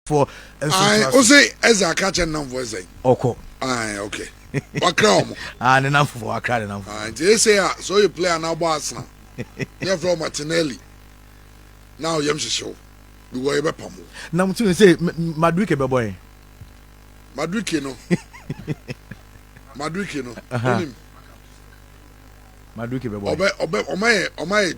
foɔ nso tra so. Ose Ezra ka kyɛ nnamfoɔ sɛ. Ɔkɔ. Ae okay. Wakra wɔn. ah ne nnamfoɔ wakra ne nnamfoɔ. Ah nti ese a sɛ ɔyɛ player na abɔ Arsenal ne yɛfrɛ wɔn Martinelli na ɔyɛm hyehye wo because yɛbɛpam wo. Na mo tumi sɛ Madrike bɛbɔ yɛn. Madrike no Madrike no onim. Madrike bɛbɔ yɛn. Ɔbɛ ɔbɛ ɔmayɛ ɔmayɛ.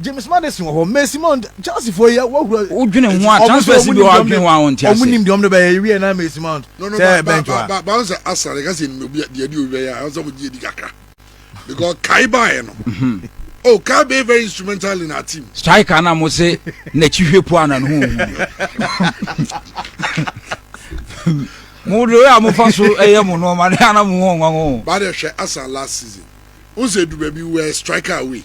James Madison wɔ hɔ, Mercy Montt, Chelsea foɔ yi wɔ hura. Wo dwene ho a, transfer si bi wɔ adwene ho a wɔn ti ase. Wɔn nim deɛ wɔn de bɛyɛ, ewie na Mercy Mount sɛ bench wa. Ba ba sɛ Arsenal ka sɛ nim obi deɛ di owia yɛ a, ɔsɛ wɔn gye edi kakra because Kai baayɛ no. Oh, Kai be very instrumental in our team. Striker na mo se n'akyi hwɛ po ana ne ho hu. Mo de a mo fa so ɛyɛ mo no ma ne ana mo ho nwanwo. Ba de hwɛ Arsenal last season. Unse du baabi were striker away.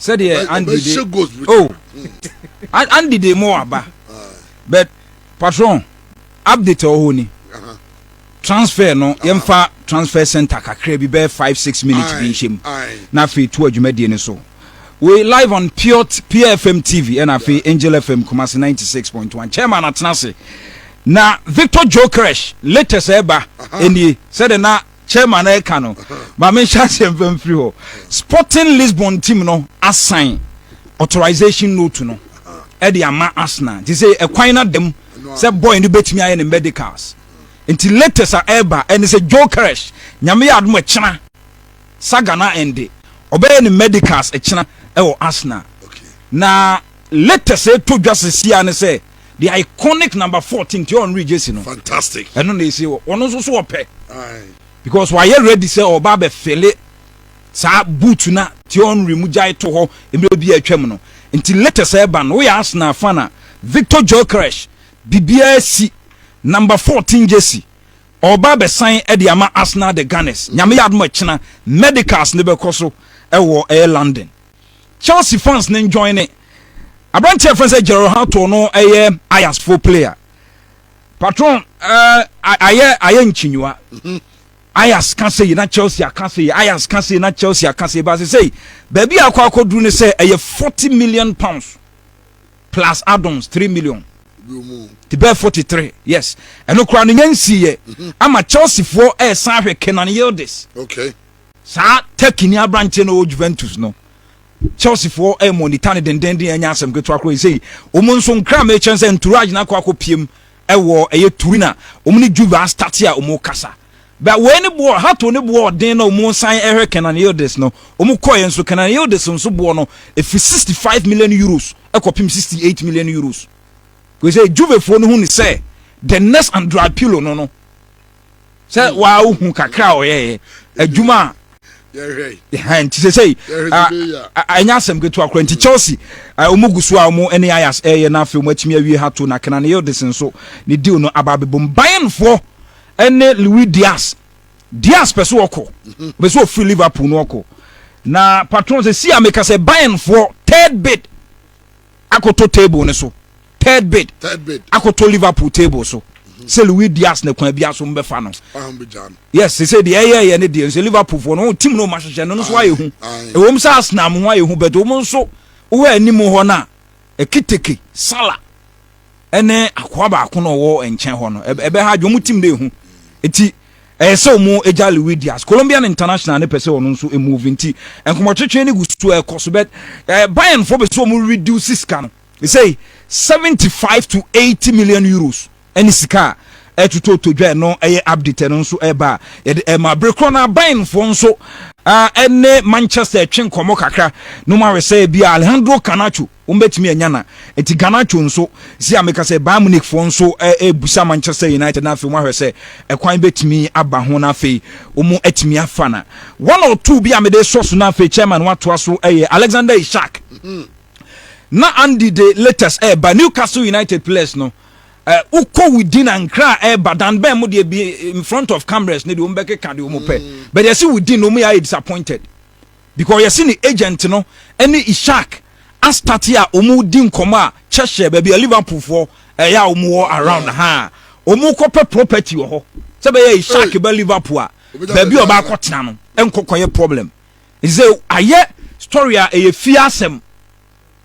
sɛdeɛ andy de oh andy de mo aba but patron update ɔwɔ hɔ ni transfer no yɛmfa transfer center kakra bi bɛyɛ five six minutes bi nhyɛ mu na afei to adwumadie no so wei live on pure pure fm tv ɛna afei angel fm kumase ninety six point one chairman atena ase na victor jokeresh latest ɛba ɛnie sɛdeɛ na chairman ɛka no ma me nhyɛ aseɛ mfa mfiri hɔ sporting lisbon team no asan authorization note no ɛde ama arsenal nti sɛ ɛkwan no adam sɛ boy no bɛtumi ayɛ ne medicals nti latest a ɛreba ɛne sɛ jokeresh nyame yɛ adom ɛkyena saga no ɛnde ɔbɛyɛ ne medicals ɛkyena ɛwɔ arsenal na latest ɛtɔ dwa sesia ne sɛ the iconic number fourteen ti ɔn regye si no fantastic ɛno na esi wɔ ɔno nso so ɔpɛ because wayɛ ready sɛ ɔba abɛ fele saa boot na ti ɔn re mu gya eto hɔ mmerɛ bi atwam no nti latest ɛba no woyɛ asena afa na victor jokeresh bibiara si number fourteen jesi ɔba abɛ san ɛde ama asena the gunners nyame yɛ adoma kyena medicals ne bɛkɔ so ɛwɔ ɛyɛ london. Chelsea fans ne njoin ne aberanteɛ a fɛn sɛ Gerald Hato no ɛyɛ Ajax fo player patron ɛɛ ayɛ ayɛ nkyinyiwa mhm. Ajax ka se yi na Chelsea aka se yi Ajax ka se yi na Chelsea aka se yi baasi sɛ yi baabi a akɔ akɔduru ne sɛ ɛyɛ forty million pounds plus add-ons three million ti bɛɛ forty three yes ɛno koraa no nyɛ nsiiɛ mhm. ama Chelsea foɔ ɛɛsan ahwɛ Kenan Yildiz. Okay. Saa Turkeyni aberanteɛ no ɔwɔ Juventus no, Chelseafoɔ ɛremonita no dendenden ɛnyɛ asɛm ketewa koraa sei. Wɔn nso nkra ma ɛkyerɛ sɛ Nturaj no akɔ akɔpiem ɛwɔ ɛyɛ Turin a wɔn ne Juve astate a wɔn rekasa. Bɛ wei ne boɔ, Hato ne boɔ ɔden na wɔn resan ɛhwɛ Kenan Yildiz no. Wɔn kɔeɛ nso, Kenan Yildiz nso boɔ no ɛfiri 65 million euros ɛkɔpem 68 million euros. Wei sɛ Juvefoɔ no hu no sɛ the next Andriy Pirlo no no. sɛ hmm. waa wohu kakra a ɔyɛɛ adwuma a nti sɛ sɛ ɛnyɛ asɛm ketewa kora nti chelsea ɔmu gu so a ɔmu ne ayas ɛyɛ no afei ɔmu atumi awie ha to na kena ne yildes nso ne deal no aba abɛbom bayernfoɔ ɛne louis dias dias pɛ so ɔkɔ mhm. pɛ so ɔfiri liverpool no ɔkɔ na patron sɛ si a meka sɛ bayernfoɔ third bid akɔtɔ table no so third bid akɔtɔ liverpool table so sɛ louis dias ne kwan bia so mbɛfa no yes sese deɛ ɛyɛ yɛ ne deɛ nso liverpool foɔ no tim no ɔma hyehyɛ no nso ayɛ hu ɛwɔ mu sɛ arsenal ho ayɛ hu bɛtɛ ɔmo nso wɔ anim hɔ no a ɛkiteke sala ɛne akoa baako na ɔwɔ nkyɛn hɔ no ɛbɛha adwene wɔn tim de ehu eti ɛyɛ sɛ wɔn agya Louis Diaz Colombian international ne pɛ sɛ ɔno nso move nti nkɔmɔtwetwe ne gu so ɛkɔ so bɛt ɛɛ Bayern fo bɛ so wɔn reduce sika no ɛsɛ seventy five to eighty million euros ɛne sika a ɛtoto todwa ɛno ɛyɛ update ɛno nso ɛba yɛde ɛma bere korɔ na Bayern fo nso ɛne Manchester ɛtwe nkɔmɔ kakra no ma wɛ sɛ bi Alejandro Canacho. Wɔn bɛtumi anya na nti Garnacho nso sɛ a meka sɛ Bayern Munich foɔ nso ɛɛbusa Manchester United na afei wɔn ahwɛ sɛ ɛkwan bɛtumi aba ho na afei wɔn atumi afa na one or two bi a mede sɔ so na afei chairman watoa so ɛyɛ Alexander Isak na Andy de latest ɛɛba Newcastle United players no wokɔ within ankra a ɛɛba dan bɛn mo deɛ bi in front of cameras ne deɛ wɔn bɛkeka deɛ wɔn pɛ but yɛsi within na wɔn yɛ ayɛ disappointed. because yɛse ne agent no ɛne Ishak astate a ɔmu di nkɔmɔ a Cheshire baabi a Liverpool foɔ ɛyɛ a ɔmu wɔ around ha ɔmu kɔ pɛ property wɔ hɔ sɛ bɛyɛ Ishak bɛ Liverpool a baabi a ɔba akɔ tena no ɛnkɔ kɔ yɛ problem nse ayɛ story a ɛyɛ fie asɛm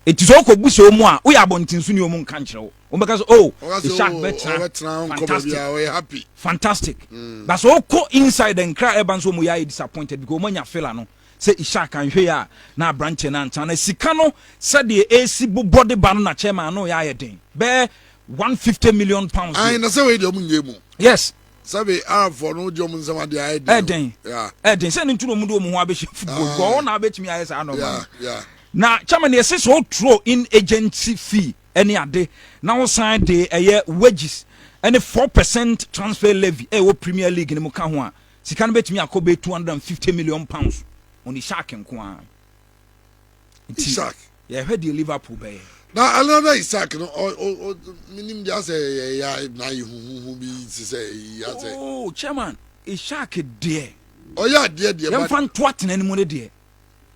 ɛti sɛ ɔkɔ bu sɛ ɔmu a woyɛ abɔntenso ni ɔmu nka nkyerɛ wo. wɔn bɛka so oh ishak bɛtena fantastic fantastic mm. but so okɔ inside nkira ɛba nso wɔn yɛ ayɛ disappointed because wɔn anya fela no sɛ ishak anhwɛ yɛ a na aberanteɛ no antena na sika no sɛdeɛ esi bobɔ de ba no na chairman ano yɛ ayɛ den bɛɛ one fifty million pounds. ayi na sɛ wei deɛ ɔmu nye mu. yes. sɛbi arabfoɔ no wogye ɔmu nsɛm adeɛ ayɛ den. ɛden ɛden sɛ ne nturo mu de ɔmu ho abɛhyɛ football ah. gɔɔ na abɛtumi ayɛ saa nɔɔma no na chairman yɛ sɛ sɛ ɔturo in agency fee ne ade, na wosan de ɛyɛ wages ne four percent transfer levy a ɛwɔ Premier League no mu ka ho a, sika no bɛtumi akɔ bɛyɛ two hundred and fifty million pounds on Isak nko ara. Nti Isak. yɛhwɛ deɛ Liverpool bɛyɛ. na ɛno na Isak no menim de asɛ yɛya na ayɛ huhuhu bi te sɛ yi asɛ. Oh, chairman Isak deɛ. ɔyɛ adeɛ deɛ. yɛmfa ntoa tena no mu no deɛ.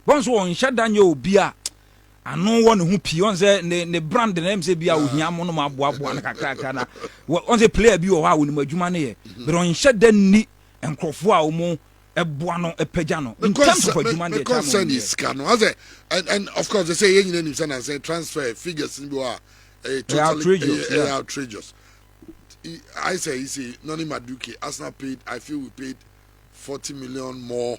bɔn so ɔnhyɛ da nyɛ obi a ano wɔ ne ho pii ɔn sɛ ne ne brand na ɛm sɛ bi a ohia mo no ma aboaboa no kakrakra na ɔn sɛ player bi wɔ hɔ a wɔnim adwuma no yɛ bɛrɛ ɔnhyɛ da nni nkurɔfoɔ a wɔn ɛboa no ɛpɛgya no in terms of adwuma no deɛ ɛkyɛ mo deɛ sika no asɛ and and of course they say yɛn nyinaa nim sɛ na sɛ transfer figures ni bi wɔ a ɛyɛ totally ɛyɛ outrageous I say you see Noni Maduke Arsenal paid I feel we paid forty million more.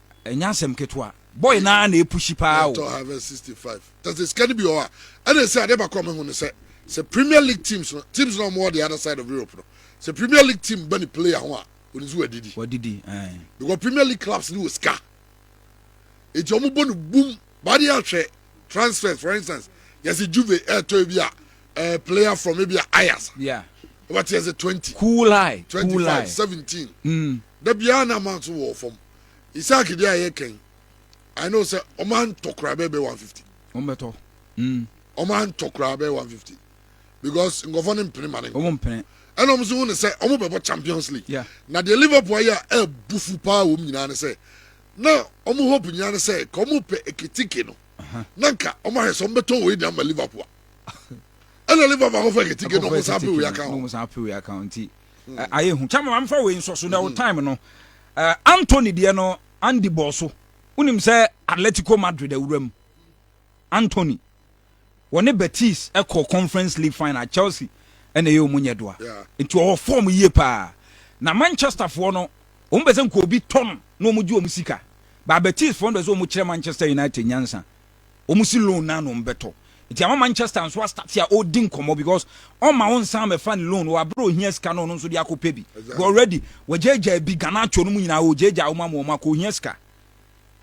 Ɛnyɛ asɛm ketewa. Boy no ara na ɛpushi paa o. Ɛtɔ Harvest 65. Tɛsɛ sika no bi wɔ hɔ a, ɛna ɛsɛ adeɛ baako a mehu ne sɛ, sɛ Premier League teams no, teams no a wɔwɔ the other side of Europe no, sɛ Premier League team ba ne player ho a, ɔnim sɛ wadidi. Wadidi, ɛɛ. Because Premier League clubs no wɔ sika. Enti wɔn bɔ no bum. Baade yɛ ahwɛ transfers for instance, yɛsɛ Juve ɛɛtɔ ebi a, ɛɛ player from ebi a Ajax. Yeah. Wɔbɛte yɛsɛ 20. Cool high. 25, cool high. 17. Mm. Da biara na amount wɔ fam. isaac deɛ ayɛ kɛn i know sɛ ɔmo antɔ koraa bɛɛ bɛ one fifty. ɔmo bɛ tɔ. Mm. ɔmo antɔ koraa bɛɛ one fifty because nkɔfɔ ne mpene ma ne nkɔ. ɔmo mpene. ɛna ɔmo nso hu ne sɛ ɔmo bɛ bɔ champions league. Yeah. na deɛ liverpool ayɛ a ɛɛbu fu paa wɔn nyinaa ne sɛ na ɔmo hope nyinaa ne sɛ ka ɔmo pɛ eketike no na nka ɔmo ahwɛ sɛ ɔmo bɛ tɔ wei de ama liverpool a ɛna liverpool akɔfɔ eketike na ɔmo san pe wei aka ho. ayɛ hu kyɛ ma mamfa wei nsɔ so na wo time no Anthony deɛ no Andy bɔɔ so wonim sɛ Atletico Madrid awuram Anthony wɔne Betis ɛkɔ Conference League final Chelsea ɛna ɛyɛ ɔmo nyɛ doa nti ɔwɔ fɔm yie paa na Manchester foɔ no wɔn bɛ sɛ nka obi tɔ no na wɔn gye wɔn sika ba Betis foɔ no bɛ sɛ wɔn kyerɛ Manchester United nyansa Wɔn si loan na na wɔn bɛtɔ. Nti ama Manchester nso astate a ɔredi nkɔmmɔ because ɔma wo nsan mɛfa ne loan wɔ abere ohia sika na ɔno nso de akɔpɛ bi. Exactly. Already wɔgyaagyaa bi Garnacho no mu nyinaa wɔgyaagyaa wɔn ama wɔn akɔ ohia sika.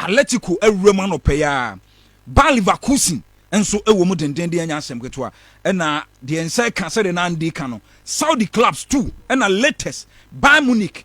Atletico awuram anɔpɛ yi ara. Bayer Leverkusen nso wɔ mu dendenden anya asɛm ketewa. Ɛna deɛ nsa ka sɛdeɛ na Andy ka no Saudi clubs too ɛna latest Bayern Munich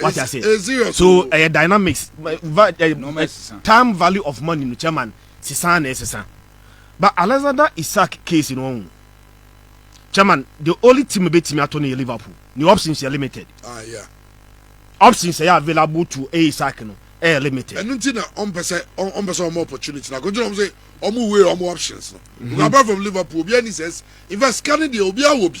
wate ase so ɛyɛ eh, dynamics eh, time value of money no chairman sisan na ɛsesa but alexander isaac case no ɔhu chairman the only team bɛtumi ato no yɛ liverpool ne options yɛ limited ah, yeah. options ɛyɛ available to a isaac no ɛyɛ limited ɛno nti na ɔmpɛ sɛ ɔmpɛ sɛ ɔmɔ opportunity na kɔgyina ɔm sɛ ɔmo wei ɔmo options no mhm. apart from liverpool obiara ni sɛ in fact sika no deɛ obiara wɔ bi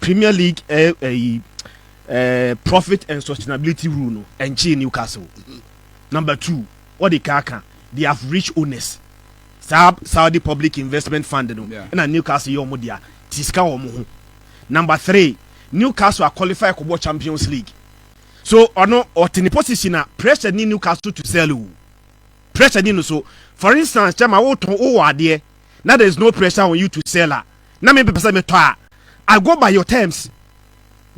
Premier League ɛ ɛyi ɛ profit and sustainability rule no ɛnkyee Newcastle. Mm-hmm. Number two, wɔde kaa ka they have rich owners. Saa Saudi Public Investment Fund no ɛna Newcastle yɛ wɔn dea ti sika wɔn ho. Number three, Newcastle aqualify kɔbɔ Champions League. So ɔno ɔte ne position a pressure ni Newcastle to sell o. Pressure ni no so. For instance, kyɛma wotɔn wowɔ adeɛ na there is no pressure on you to sell a. na me mpɛ sɛ me tɔ a I go by your terms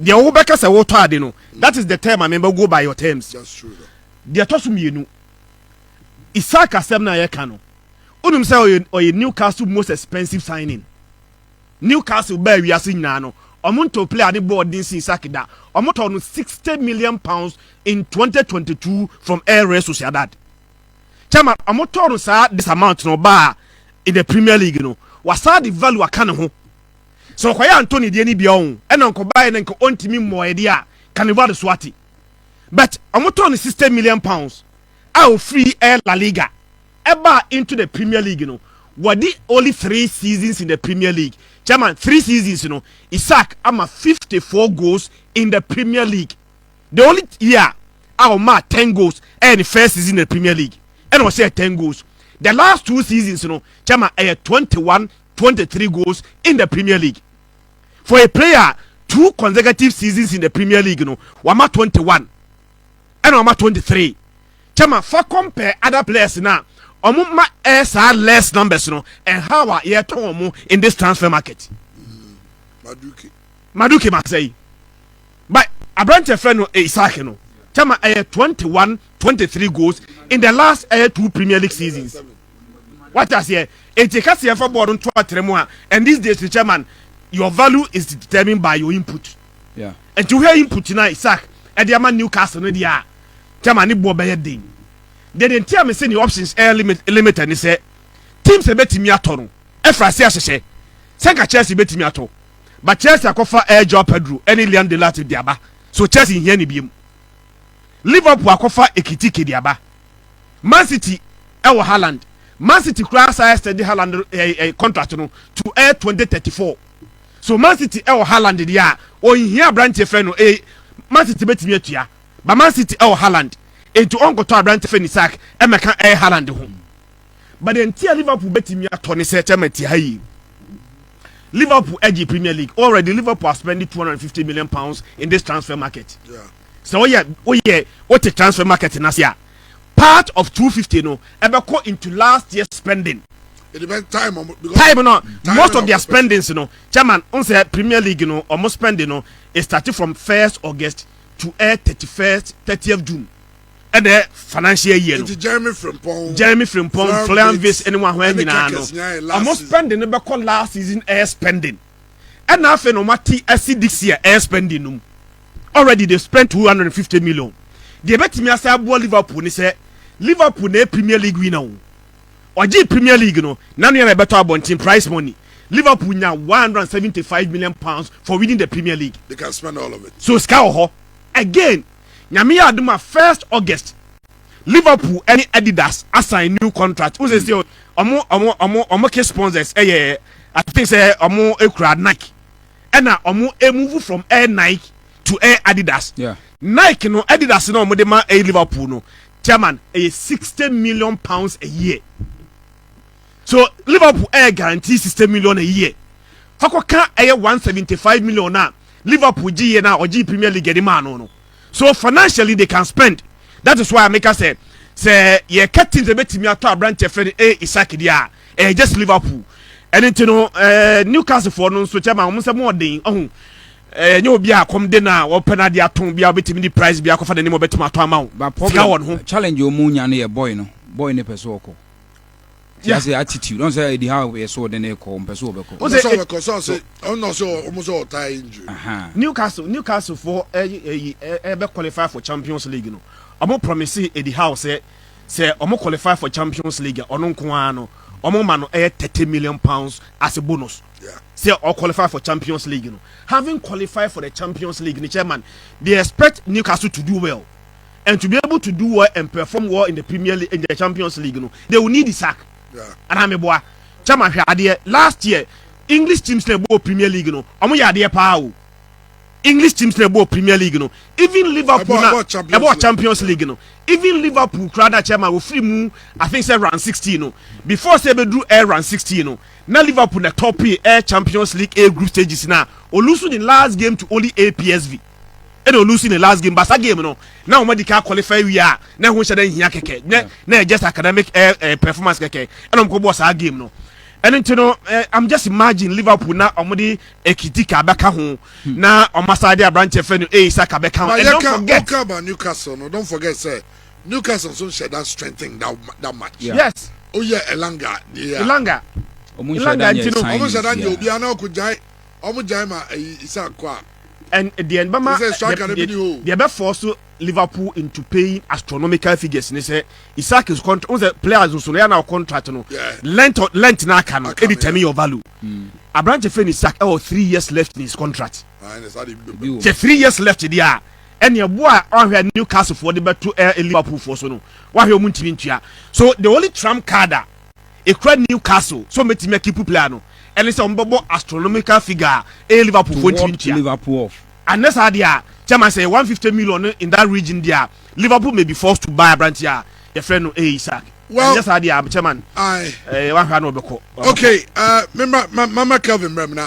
deɛ wo bɛka sɛ wo tɔ ade no that is the term a me bɛ go by your terms deɛ tɔ so mmienu Isaac asɛm na yɛ ka no unim sɛ ɔyɛ ɔyɛ Newcastle most expensive signing Newcastle bɛɛ wiase nyinaa no ɔmo ntɔ player ne bɔɔl den si Isaac da ɔmo tɔ no sixty million pounds in twenty twenty two from El Real Sociedad. Chairman, ɔmo tɔɔ no saa this amount na ɔbaa in the premier league no, wasan de value aka ne ho. Sɛ ɔkɔyɛ Antony deɛ no bia ɔn, ɛna nkɔbaeɛ no nka ɔntumi mmɔɔɛ deɛ a, ka ne value so ate. But ɔmo tɔɔ no sixty million pounds a ɔfiri ɛyɛ La Liga ɛbaa into the premier league no, wadi only three seasons in the premier league. Chairman, three seasons no, Isak ama fifty four goals in the premier league. the only year a ɔmaa ten goals ɛyɛ ne first season na premier league ɛna ɔhyɛɛ ten goals the last two seasons no kyɛma ɛyɛ twenty one twenty three goals in the premier league for a player two consecutive seasons in the premier league no wama twenty one ɛna wama twenty three kyɛma fa compare other players na ɔmo ma ɛyɛ saa less numbers no and how a yɛtɔn ɔmo in this transfer market. Mm, maduke maduke masɛyi. But aberanteɛ fɛ no Isaac no kyɛma ɛyɛ twenty one twenty three goals in the last ɛyɛ two Premier League seasons wate aseɛ eti kasi yɛn fɛ bɔɔl no nto atere mu a and these days no kyɛma your value is determined by your input nti wohwɛ input na Isaac ɛde ama Newcastle no deɛ a kyɛma ne boɔ bɛyɛ den deɛ deɛ nti a mese ne options ɛyɛ limit limited ne sɛ teams ɛbɛtumi atɔ no ɛfra se ahyehyɛ sɛ nka Chelsea bɛtumi atɔ But Chelsea akɔfa ɛɛ Joao Pedro ɛne Liam Delap de aba so Chelsea nhia ne biom. Liverpool akɔfa Ekitike de aba. Man City ɛwɔ Haaland. Man City koraa asan extend Haaland ɛɛ contract no to ɛɛ 2034. So Man City ɛwɔ Haaland deɛ a ɔnhia abranteɛ fɛ no ɛɛ Man City bɛtumi atua. But Man City ɛwɔ Haaland nti ɔnkɔtɔ abranteɛ fɛ no Isak ɛmɛka ɛɛ Haaland ho. But deɛ nti a Liverpool bɛtumi atɔ ne sɛ Chairman te ha yi, Liverpool agye Premier League already. Liverpool are spending 250 million pounds in this transfer market. Sɛ woyɛ woyɛ wote transfer market no ase a, part of 250 no ɛbɛkɔ into last year spending. It depends time um, because time no time most of their spendings no chairman on say premier league no almost spending no it started from 1st august to 31st eh, 30th june ɛdɛ financial year no jeremy frimpong jeremy frimpong florian vis ɛne wɔn ahoɛ nyinaa no wɔn spending no bɛkɔ last season air spending ɛna afei na wɔn ati asi this year air spending no mu already they spent two hundred and fifty million deɛ ɛbɛtumi asa aboa liverpool ne sɛ liverpool na yɛ premier league winner o ɔgye premier league no nanu yɛn na ɛbɛtɔ abɔnten price money. Liverpool nya 175 million pounds for winning the Premier League. They can spend all of it. So Sky Oho again Nyame yɛ adom a first August Liverpool ɛne Adidas asan new contract wo sɛ sɛ ɔmo ɔmo ɔmo ɔmo ke sponsors ɛyɛ I think sɛ ɔmo ekura Nike ɛna ɔmo emove from Air Nike to Air Adidas yeah. Nike no Adidas na ɔmo de ma ɛyɛ Liverpool no chairman ɛyɛ sixty million pounds a year. So Liverpool ɛyɛ guarantee sixty million a year fakɔ ka ɛyɛ one seventy five million a Liverpool gye yɛ no a ɔgyee Premier League de maa no no? So financially they can spend that is why a meka sɛ sɛ yɛka teams a bɛtumi atɔ aberanteɛ fɛ no ɛyɛ Isak deɛ a ɛyɛ just Liverpool ɛne nti no eh, Newcastle foɔ no nso kyɛ ma wɔn sɛ mo ɔden ɔho ɛnyɛ eh, obi a kɔm de na wɔpɛ no adeɛ atɔn bi a wobɛtumi de price bi akɔfa n'anim wɔbɛtumi atɔ ama wo sika wɔ no ho challenge ɔmu nya no yɛ boy no boy ne pɛ so ɔkɔ ti ase attitude ɔn sɛ edi ha yɛ so ɔde ne kɔ ɔmpɛ so ɔbɛkɔ. o sɛ ɔbɛkɔ sɛ ɔsɛ ɔnna ɔsɛ ɔmo sɛ ɔtaa injury. newcastle newcastle fo ɛyi ɛyi ɛbɛ qualify for champions league no ɔmo promise edi ha ɔsɛ sɛ ɔmo qualify for champions league ɔno nko ara no ɔmo ma no ɛyɛ thirty million pounds as a bonus sɛ ɔ qualify for champions league no having qualified for the champions league ni chairman they expect newcastle to do well. and to be able to do well and perform well in the Premier League in the Champions League no they will need the sack ana me boa chama hwɛ adeɛ last year English teams na ɛbɔ Premier League no ɔmo yɛ adeɛ paa o English teams na ɛbɔ Premier League no even Liverpool na ɛbɔ Champions League no even Liverpool kura na chama ofiri mu I think sɛ round sixteen no before sɛ ɛbɛduru air round sixteen no na Liverpool na tɔpii air Champions League A group stages na olusu the last game to only APSV. ɛna ɔlusi ne last game basa game no na wɔn adi kan qualify wie a na ɛho nhyɛ dɛ nhia kɛkɛ na na yɛ just academic ɛ eh, ɛ eh, performance kɛkɛ ɛna wɔn kɔ bɔ saa game no ɛno nti no ɛ i'm just imagine liverpool na wɔn de ekitika abɛka ho hmm. na wɔn asa de aberanteɛ fɛ no eyi saka bɛka ho and don't forget. ɔka about newcastle no don't forget sɛ newcastle nso nhyɛ that strengthen that that match. Yeah. yes. oyɛ elanga. elanga elanga nti no. ɔmo nhyɛ da nyɛ obiara na ɔkò gyae. ɔmo gyae ma ɛyi Isak kɔ a. Ɛn, deɛ ɛbɛma, Te sɛ deɛ, striker no bi deɛ, ni hɔ o. deɛ ɛbɛfɔɔ so Liverpool into paying astronomical figures ne sɛ Isak's contract, wohu sɛ players nso no, ɛyɛ a na wo contract no, Yeah. length of, length no aka no, Aka no, determine yeah. your value. Aberanteɛ fɛ no Isak ɛwɔ three years left in his contract. Ah, ɛna saa deɛ bi bɛba. Ebi wɔ mu. Sɛ three years left deɛ a, ɛne ɛboɔ a ɔhwɛ a Newcastle foɔ de bɛto ɛ, Liverpool foɔ so no, wahwɛ ɔmo ntumi ntua. So the only trump card a ekura Newcastle sɛ wɔbɛtumi akipu player no ne sɛ wɔbɛbɔ astronomical figure a ɛyɛ Liverpool foɔ ntumi ntua. Anyɛ saa deɛ a, chairman sɛ ɛyɛ one fifty million no in that region deɛ a, Liverpool may be forced to buy aberanteɛ a yɛfrɛ no ɛyɛ Isak. Anyɛ saa deɛ a, chairman, ɛɛ wahwɛ a na ɔbɛkɔ. Okay, ɛɛ mema mama Kelvin mmerɛ mu na.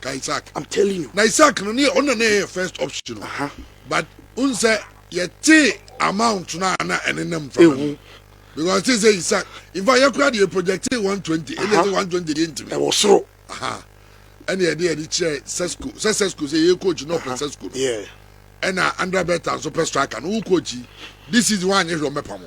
ka isaac i'm telling you na isaac no ne ɔna na ɛyɛ first option no uh-huh. but n sɛ yɛte amount no a na ɛne nam fa no because te sɛ isaac in fact yɛkora deɛ project 120 ɛne sɛ 120 deɛ ntimi ɛwɔ soro ɛne ɛde ɛde kyerɛ sesco sɛ sesco sɛ yɛyɛ coach na ɔpɛ sesco no ɛna andra bɛta nso pɛ striker no wo coach yi this season woanyɛ hwɛ ɔmɛpa mo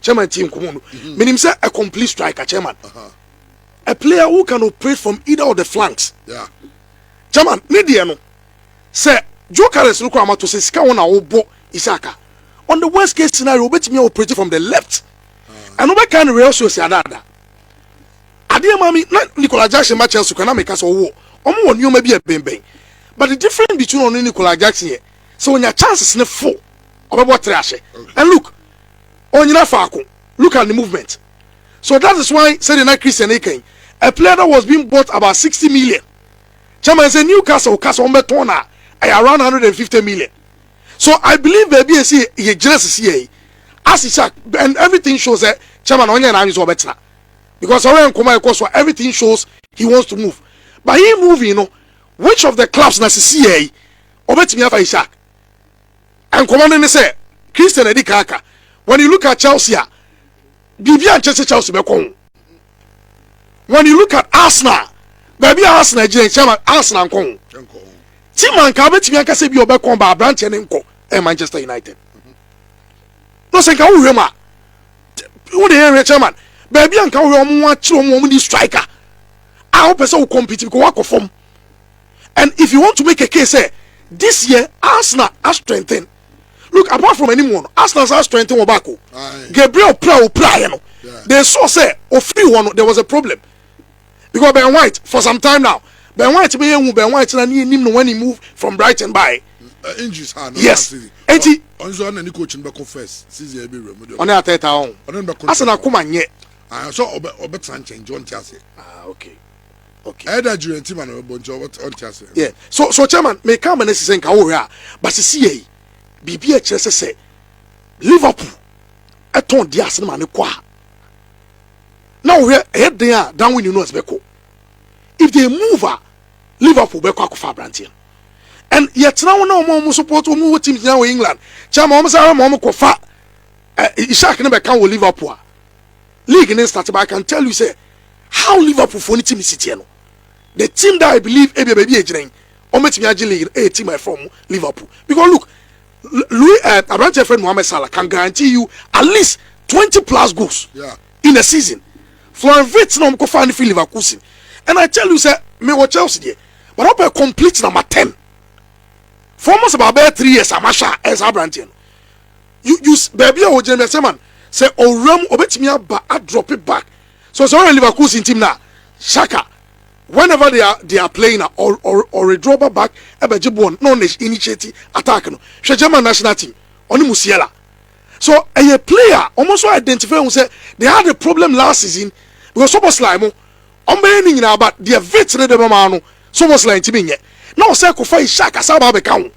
chairman tie nkɔmɔ no mhm. menim sɛ a complete striker chairman a player who can operate from either of the flanks yeah. chairman ne deɛ no sɛ joe carres no koraa mato sɛ sika wɔn na wɔbɔ isaka on the worst case scenario wobɛtumi a operate from the left ah. ɛno bɛka no real source adaada adeɛ ma me na nicola jackson ma chelsea kora na meka sɛ ɔwɔ ɔmo wɔ nneɛma bi a bɛnbɛn but the difference between ɔno ne nicola jackson yɛ sɛ ɔnya chances ne fo ɔbɛbɔ tere ahyɛ and look ɔnnyina faako, look at the movement, so that is why sɛdeɛ na Christian reka yi, a player that was being bought about sixty million, chairman sɛ Newcastle ka sɛ wɔbɛtɔn no a, ɛyɛ around one hundred and fifty million, so I believe baabi a ɛsɛ yɛgyina sisi yɛ yi, as it is, and everything shows sɛ chairman ɔnyɛ n'adwene sɛ ɔbɛtena because ɔyɛ nkɔmɔ a ɛkɔ so a everything shows he wants to move but he moving no which of the clubs na sisi yɛ yi ɔbɛtumi afa Isak. Nkɔmmɔ no ne sɛ, Christian a ɛdi kan aka, When you look at Chelsea a, biribi ankyɛ sɛ Chelsea bɛkɔ ho. When you look at Arsenal, baabi a Arsenal gyina nkyɛn ma Arsenal nkɔ ho. Ti ma nka abɛtumi anka sɛ bi ɔbɛkɔ ba aberanteɛ ne nkɔ ɛyɛ Manchester United. Na sɛ nka wohwɛ mu a, wo de yɛn hwɛ chairman, baabi a nka wohwɛ wɔn akyerɛ wɔn wɔn ni striker a wopɛ sɛ wo compete because wakɔ fam. and if you want to make a case sɛ this year Arsenal a strengthen look apart from anim wɔ no Arsenal san strengthen wɔ back o Gabriel pra o pra yɛ no they saw sɛ ofiri hɔ no there was a problem because Ben White for some time now Ben White bɛ yɛ hu Ben White na ne yɛ nim no when he move from Brighton by. Uh, injuries ha no yes eti ɔnso ɔna ne coach no bɛkɔ first season yɛ bi wura mu de ɔne atɛta ɔn ɔne bɛkɔ asana koma nyɛ ah so ɔbɛ ɔbɛ tena nkyɛn jɔn ti ase ah okay okay ɛda eh, jure nti ma na bɛbɔ nti ɔnte aseɛ yeah so so chairman meka ama no asi sɛ nka wohwɛ a ba sisi yɛi biribi a ɛkyerɛ sɛ sɛ liverpool ɛtɔn de ase no ma ne kɔ a na wohwɛ ɛyɛ den a darwin nunes bɛkɔ if they move a liverpool bɛkɔ akɔfa aberanteɛ and yɛtena wo na wɔn a wɔn support wɔn wɔ teams nyinaa wɔ england chairman wɔn sɛ wɔn kɔfa eh, ishak no bɛka wɔ liverpool a league no start but I can tell you sɛ how Liverpool foɔ no team si teɛ no the team that I believe ebia baabi a egyina yi wɔbɛtumi agye league no ɛyɛ team a ɛfrɛ wɔn Liverpool because look Louis uh, eh, aberanteɛ friend Mohamed Salah can guarantee you at least twenty plus goals yeah. in a season Florian Wirtz na wɔn kɔ fa no fi Leverkusen and I tell you sɛ me wɔ Chelsea deɛ but wɔpɛ complete number ten for almost about bɛyɛ three years a mahwɛ a ɛyɛ saa aberanteɛ no You use baabi a wogyina mi asɛm and sɛ ɔwura mu ɔbɛtumi aba adrɔpe back so sɛ ɔyɛ Leverkusen team no a Xhaka whenever they are they are playing a ɔredrɔ ba back ɛbɛgye bɔɔl na ɔna initiate attack no hwɛ German national team ɔne Musiala so ɛyɛ player wɔn nso identify ho sɛ they had a problem last season because Szoboszlai mo wɔn bɛyɛ ne nyinaa but deɛ Vit ne de bɛma no Szoboszlai ntumi nyɛ na ɔsɛ kofa Xhaka saa ba abɛka ho.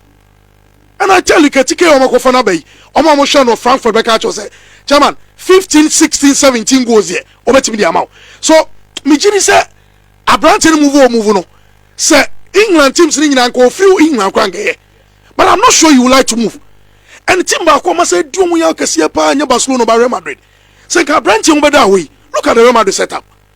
Ɛna Charlie Katike a wɔakɔfa no aba yi, wɔn a wɔhwɛ no wɔ Frankfurt bɛka akyerɛ sɛ, Chairman, 15, 16, 17 goals deɛ, wɔbɛtumi de ama wo. So, megye di sɛ aberante no move o move no, sɛ England teams no nyinaa nka wɔfiri England koraa nkɛyɛ. But I'm not sure you would like to move. And team baako ɔma sɛ di wɔn yɛ akɛseɛ paa nyɛ Barcelona ba Real Madrid. Sɛ nka aberante ho bɛda hɔ yi, look at the Real Madrid setup.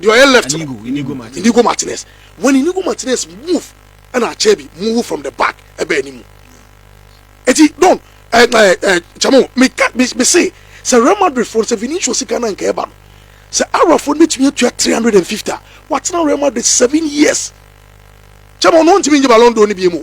deɛ ɔyɛ left no Inigo Martinez when Inigo Martinez move ɛna Acerbi move from the back ɛbɛ anim eti don ɛɛ ɛɛ kyɛmo meka mese sɛ Real Madrid fo sɛ Vinicius sika na nka ɛba no sɛ Arabfo no betumi atua three hundred and fifty a watena Real Madrid seven years kyɛmo no ntumi nye Ballon d'Or no bi mu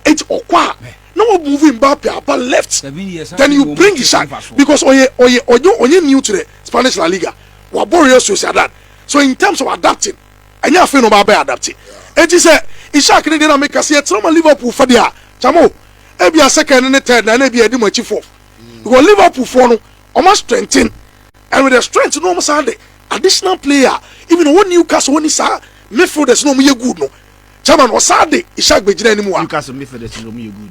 eti ɔkɔ a na wɔ move Mbappe aba left then you bring Xavi because ɔyɛ ɔyɛ ɔyɛ ɔyɛ new to the Spanish La Liga. wɔabɔ Real Sociedad so in terms of adapting ɛnyɛ afei na wɔabɛ adapte eti sɛ Ishak ne deɛ na meka sɛ yɛtena ma Liverpool fa deɛ a kyamo ebia second ne ne third na ɛna ebia ɛdi mo akyi fourth because Liverpool foɔ no wɔn strengthen and with the strength no wɔn san de additional player even wɔn Newcastle wɔn ni saa midfielders na wɔn yɛ good no chairman wɔsan de Ishak bɛgyina anim wa. Newcastle midfielders na wɔn yɛ good.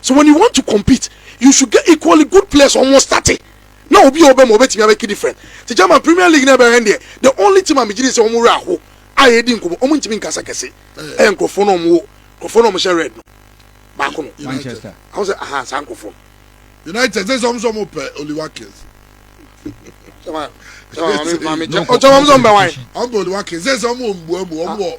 so when you want to compete you should get equally good players ɔmo wɔ starte na obi a ɔbɛma ɔbɛtumi abɛki different te German premier league na ɛbɛhwɛ no deɛ the only team a megye di sɛ ɔmo werɛ aho a yɛdi nkɔmɔ ɔmo ntumi nkasa kɛse ɛyɛ nkorɔfoɔ no ɔmo wɔ nkorɔfoɔ no ɔmo hyɛ red no baako no Manchester ɔmo sɛ aha saa nkorɔfoɔ no United sɛ sɛ ɔmo sɛ ɔmo pɛ Oli Watkins ɔkyɛ ɔmo sɛ ɔmo bɛ wan ɔmo pɛ Oli Watkins sɛ sɛ ɔmo wɔ mbuamu ɔmo wɔ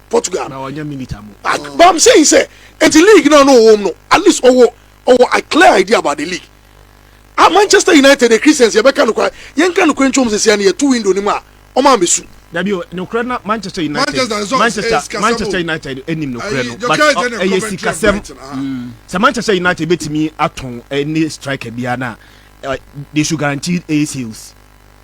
Portugal. Na ɔnyɛ milita mo. Ah, but I'm saying sɛ nti league na no wɔm no at least ɔwɔ ɔwɔ a clear idea about the league. Ah, Manchester United the Christians yɛ bɛ ka no kora yɛn ka no kora ntwom sisi ani yɛ two window ni mu a ɔmo a bɛ su. Dabi o, no kora na Manchester United Manchester Manchester, Manchester United enim no kora no but ɛyɛ sikasɛm. Sɛ Manchester United betumi atɔn ɛne striker biara na they should guarantee a sales.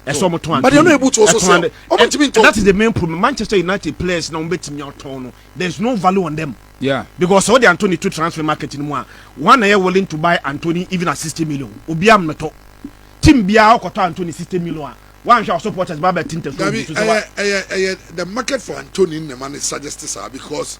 ɛsɛ ɔmo tɔn adi ɛtɔn adi that is the main problem manchester united players na ɔmo bɛ tìmí ɔtɔn no there is no value on them yeah. because ɔdi anthony to transfer market ni mu a one na yɛ willing to buy anthony even at sixty million obi a mɛtɔ team biara ɔkɔtɔ anthony sixty million a wọn ahwɛ supporters bá bẹ ti ntẹ fún mi. dabi ɛyɛ ɛyɛ ɛyɛ the market for anthony nnema ne suggest saa because.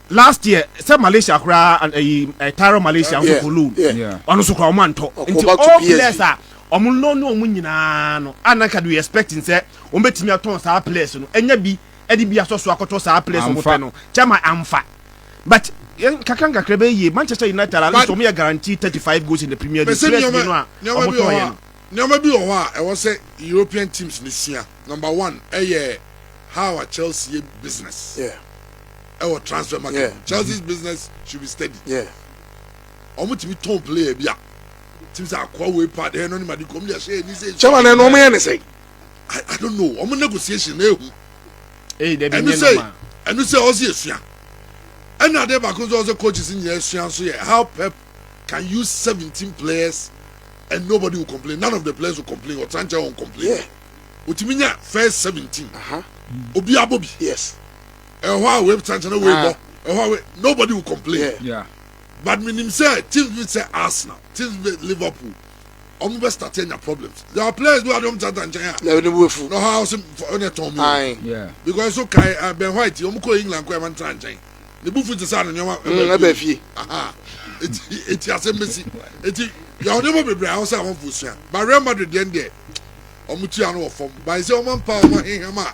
last year sɛ Malaysia koraa and ɛyi eh, eh, Tyro Malaysia nso for loan ɔno nso koraa ɔmo antɔ nti all players a ɔmo loan ne ɔmo nyinaa no ana nka do expecting sɛ ɔmo betumi atɔn saa players no ɛnya bi ɛde bi asɔ so akɔtɔ saa players ɔmo pɛ no kyɛma amfa but kakra nkakra bɛyɛ yie Manchester United at least ɔmo yɛ guarantee thirty five goals in the Premier League players bi no a ɔmo tɔn yɛ no. nneɛma bi wɔ hɔ a ɛwɔ sɛ European teams no sua number one ɛyɛ how a Chelsea yɛ business. Yeah. ɛwɔ transfer market yeah. Chelsea's business should be steady yeah. ɔmo tìmi tɔn player bi a tìmi sɛ akɔ away pad ɛyɛ nɔni madi kɔm de ɛhyɛ ɛni sɛ. chairman ɛnu ɔmo yɛ ne sɛ. I, I don't know ɔmo negotiation na ehu ɛnu sɛ ɛnu sɛ ɔsi esua ɛna adeɛ baako nso ɔsɛ coaches nyinaa esua nso yɛ how pep can use seventeen players and nobody will complain none of the players will complain ɔtí ankyɛn wɔn complain. Yeah otumi nya first seventeen obi abɔ bi. yes. ɛhɔ a wei kyɛnkyɛn na wei bɔ ah. ɛhɔ a wei nobody will complain yeah. Yeah. but menim sɛ teams bi sɛ arsenal teams bi liverpool ɔmo bɛ start anya problems there are players bi wa de ɔmo tata nkyɛn a na ɛna wo fu na ɔha ɔsɛ ɔna tɔn mu because so kai uh, ben white ɔmo kɔ england kɔ ɛma ntena nkyɛn ne bufu ti sɛ ano nneɛma mm, ɛbɛ fie eti eti asɛm bɛ si eti yà ɔne mo bebree ahosɛ àwọn fo sua but real madrid yɛn deɛ ɔmo tua no wɔ fam báyìí sɛ ɔmo mpa ɔmo ahiham a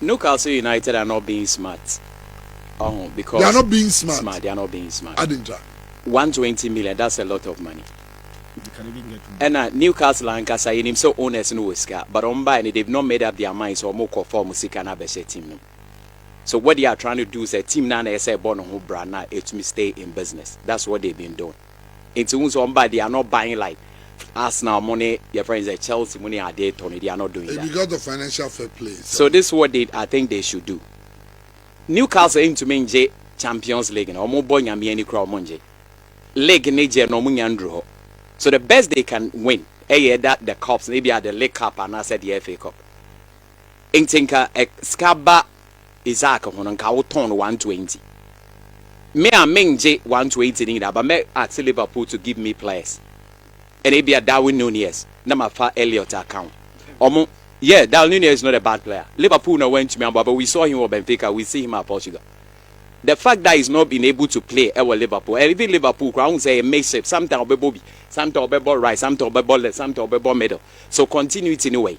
Newcastle United are not being smart ɔho because. They are not being smart. Smart they are not being smart. Adi ntra. One twenty million that's a lot of money. They can even get more. Ɛna Newcastle ankasa yɛnim sɛ owners no wɔ sika but wɔn bae no they've not made up their minds sɛ wɔn kɔ fa wɔn sika no abɛhyɛ team no mu. So what they are trying to do sɛ team no a na ɛsɛ ɛbɔ ne ho bra na ɛtumi stay in business that's what they've been doing. Enti wohu sɛ wɔba they are not buying like Arsenal mo ne yɛfrɛ no sɛ Chelsea mo ne ade tɔ no they are not doing that. Because of financial fair play. So this is what they I think they should do. Newcastle ntumi ngye Champions League no wɔn bɔ Nyame ani koraa wɔn ngye. League ne gye no wɔn nya nduru hɔ. So the best they can win ɛyɛ ɛda the cups no ebia the League Cup anaasɛ the FA Cup. Nti nka sika ba Isaac ho no nka wo tɔn no one twenty me a me ngye one twenty ne nyinaa but mɛ ask Liverpool to give me players ɛna ebia Darwin Nunez na ma fa Elliot aka ho ɔmo yeah Darwin Nunez is not a bad player Liverpool na wantumi amboa but we saw him wɔ Benfica we see him at Portugal the fact that he's not been able to play ɛwɔ Liverpool and even Liverpool koraa ɔmo sɛ ɛyɛ makeshift sometimes ɔbɛbɔ bi sometimes ɔbɛbɔ right sometimes ɔbɛbɔ left sometimes ɔbɛbɔ middle so continuity ne wɔ yi.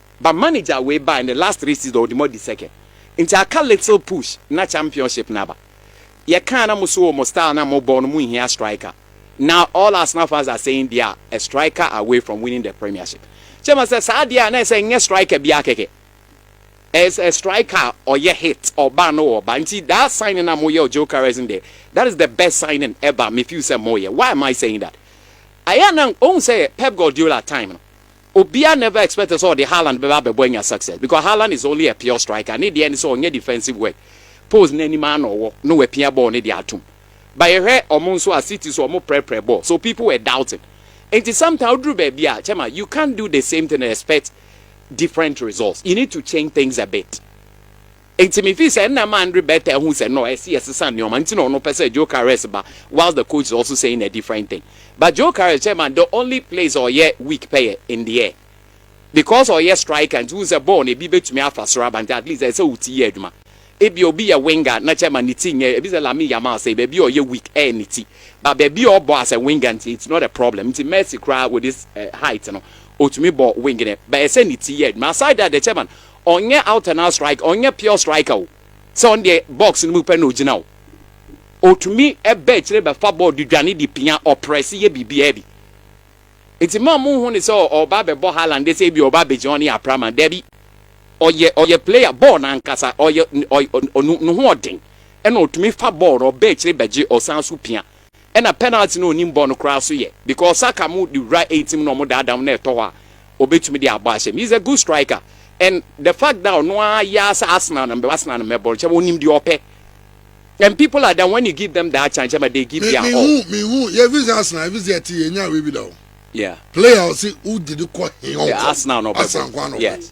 But manager wei bae ne last three season ɔde mo adi second nti aka little push na championship no aba. Yɛkaa na mo so wɔ mo style no a mobɔ no monhia striker. Now all Arsenal fans are saying they are a striker away from winning the premiership. Kyerɛ ma sɛ saa adeɛ a na ɛsɛ nyɛ striker biara kɛkɛ. Ɛyɛ a striker a ɔyɛ hit ɔba no ɔba nti that signing a moyɛ wɔ Gyökeres no deɛ that is the best signing ever me feel sɛ moyɛ. Why am I saying that? Ayɛ a na wohu sɛ Pep Guardiola time no Obiara never expected sɛ ɔde Haaland bɛba abɛbɔ anya success because Haaland is only a pure striker, ne deɛ ne sɛ ɔnyɛ defensive work, post no anim ara na ɔwɔ na wapia bɔɔl no de atom. But yɛhwɛ wɔn nso a, City nso wɔprɛprɛ bɔɔl so people were doubting. Nti sometimes woduru baabi a, Chairman, you can't do the same thing and expect different results, you need to change things a bit. Enti mifii sɛ nna ɛma Andre Bertha ahu sɛ no, ɛsɛ yɛsesa nneɛma, nti na ɔno pɛ sɛ Gyocares ba whilst the coach is also saying a different thing. But Gyocares, chairman, the only place a ɔyɛ weak pɛ yɛ in the air. Because ɔyɛ striker nti wohu sɛ bɔɔl no ebi bɛtumi afa soro aba nti at least ɛsɛ sɛ wo ti yɛ adwuma. Ebia obi yɛ winger na chairman ne ti nyɛ, ebi sɛ Lamine Yamal sei, baabi a ɔyɛ weak ɛyɛ ne ti. But baabi a ɔbɔ as a winger nti it's not a problem. Nti Messi koraa with his height no, ɔtumi bɔ wing no but ɛsɛ ne ti yɛ adwuma. Aside that the chairman, Ɔnyɛ out and out striker, ɔnyɛ pure striker o, sɛ ɔno deɛ box no mu pɛ na ɔgyina o. Ɔtumi ba akyire bɛfa bɔɔl de dwane de pia, ɔprɛse yɛ biribiara bi. Nti mma monhu no sɛ ɔreba abɛbɔ Haaland deɛ sɛ ebia ɔreba abɛgyina hɔ ne yɛ aprama, dabi. Ɔyɛ ɔyɛ player, bɔɔl no ankasa, ɔyɛ ɔyɛ ne ho ɔden, ɛna ɔtumi fa bɔɔl no, ɔba akyire bɛgye, ɔsan nso pia. Ɛna penalty no onim bɔ no koraa so yɛ because Saka mo de wura eighteen mu na ɔmo daadaa mo na ɛtɔ hɔ a obetumi de abɔ ahyɛ mu he's a good striker and the fact that ɔno ara yɛ ara sɛ Arsenal na mebɛbɔ Arsenal na mɛbɔ no kyerɛ onim deɛ ɔpɛ and people like that when you give them that chance kyerɛ ma they give their all. Me hu me hu yɛ efi sɛ Arsenal efi sɛ ɛte yɛ nya wei bi da o yeah player ɔsi wo de ne kɔ he ɔnkɔ yeah Arsenal na ɔbɛbɔ Arsenal nko ara na ɔbɛbɔ yes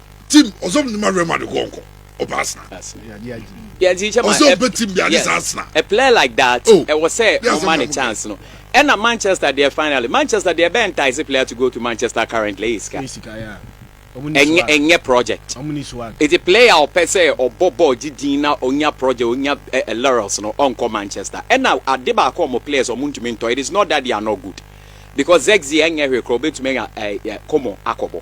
tim ɔsɛ ɔmo ma rema de kɔ ɔnkɔ ɔpɛ asena ɔsɛ ɔpɛ tim bi ade saa asena. a player like that oh, ɛwɔ sɛ ɔma ne chance no ɛna manchester deɛ finally manchester deɛ ɛbɛn taa ɛsɛ player to go to manchester currently ɛyɛ sika ɛnyɛ ɛnyɛ project ɛti player ɔpɛ sɛ ɔbɔ bɔɔl gye din na ɔnya project ɔnya ɛɛ laurels no ɔnkɔ manchester ɛna ade baako ɔmo players ɔmo ntumi ntɔ it is not that they are not good because zexi ɛnyɛ hwekora ɔbɛtumi anya ɛɛ kɔmɔ akɔbɔ.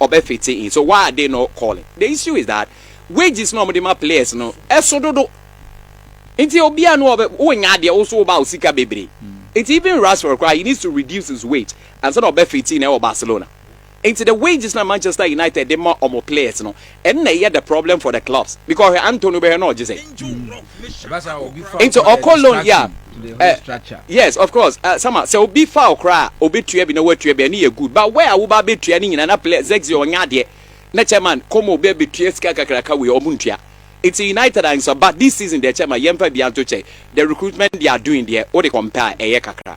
ɔbɛfete in so why are they not calling the issue is that wages na ɔmode ma players no ɛso dodo nti obia no ɔbɛ wonya adeɛ wo so woba wo sika bebree nti even Rashford koraa he needs to reduce his wage ansa na ɔbɛfete in ɛwɔ Barcelona nti the wages na Manchester United de ma ɔmo players no Ɛnna ɛyɛ the problem for the clubs because ɔhwɛ Anto no bɛhwɛ na ɔgye sɛ nti ɔkɔ loan yɛ a eh, yes of course uh, sama sɛ obi fa ɔkora a obetua bi na watua bi ɛne yɛ good but where a woba abetua ne nyinaa na play zegzi ɔnyɛ adeɛ na chairman kɔma obi abetua sika kakraka wei ɔmo ntua it's united and so but this season deɛ chairman yɛmfa bi anto kyɛ the recruitment they are doing deɛ wode compare ɛyɛ kakra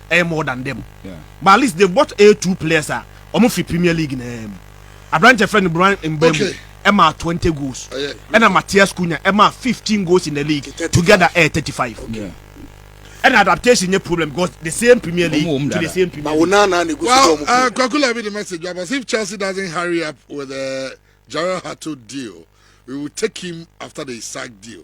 ɛyɛ more than them but at least they bought a two players a wɔn fi premier league na ɛmu aberanteɛ fɛ no brian mbemu ɛma twenty goals ɛna matias kunya ɛma fifteen goals in the league together ɛyɛ thirty five ɛna adaptation nye problem because the same premier league to the same premier league. well uh, kwakula bi the message but if chelsea doesn't hurry up with the uh, jared hato deal we will take him after the isaac deal.